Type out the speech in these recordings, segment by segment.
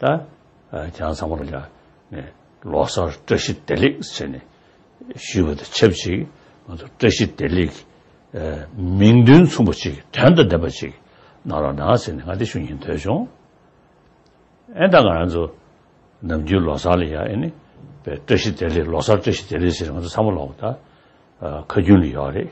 ད་བྱང་ཚང་མ་རུ་ཡང་ནས་ལོ་སར་བཀྲ་ཤིས་བདེ་ལེགས་ཟེར་ནས་ཞུས་པ་དང་ཆབས་ཅིག་ང་ཚོ་བཀྲ་ཤིས་བདེ་ལེགས་མིང་དོན་མཚུངས་པ་ཅིག་དོན་དང་ལྡན་པ་ཅིག་གནང་རོགས་གནང་ཟེར་ནས་ང་དེ་ཞུ་ཉེན་ཐོས་བྱུང། ཨེ་ད་ང་ཚོ་ནམ་རྒྱུན་ལོ་སར་ལ་ཡང་ཨེ་ནི་བཀྲ་ཤིས་བདེ་ལེགས་ལོ་སར་བཀྲ་ཤིས་བདེ་ལེགས་ཟེར་ནས་ང་ཚོ་ཚང་མ་ལོག་ད་ཁ་རྒྱུན་ལ་ཡོད་རེད།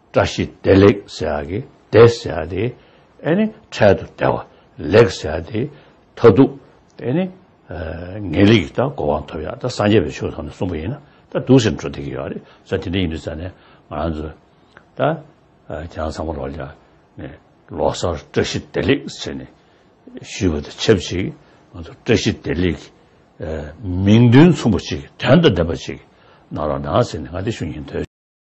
བཀྲ་ཤིས་བདེ་ལེགས་ཟེར་ཡག་གི་བདེ་ཟེར་ཡག་དེ་ཨེ་ནི་འཕྲལ་དུ་བདེ་བ་ལེགས་ཟེར་ཡག་དེ་མཐའ་སྡུག་ཨེ་ནི་ངེས་ལེགས་ཀྱི་ད་གོ་བ་ཐོབ་ཡག་ད་སངས་རྒྱས་པའི་ཆོས་ཐོབ་ནས་གསུངས་པ་ཡིན་ན་ད་སྡུག་ཟེར་འགྲོ་བསྡད་ཀྱི་ཡོད་རེད་ས་དེ་འདྲ་ཡིན་དུས་ས་ནས་ང་རང་ཚོ་ད་རྒྱ་ནག་ཚང་མ་ལོག་ཀྱང་ནས་ལོག་སར་བཀྲ་ཤིས་བདེ་ལེགས་ཟེར་ནས་ཞུས་པ་དང་ཆབས་ཅིག་ང་ཚོ་བཀྲ་ཤིས་བདེ་ལེགས་ཀྱི་མིང་དོན་མཚུངས་པ་ཅིག་དོན་དང་ལྡན་པ་ཅིག་གནང་རོགས་གནང་ཟེར་ནས་ང་དེ་ཞུ་ཉེན་ཐོས།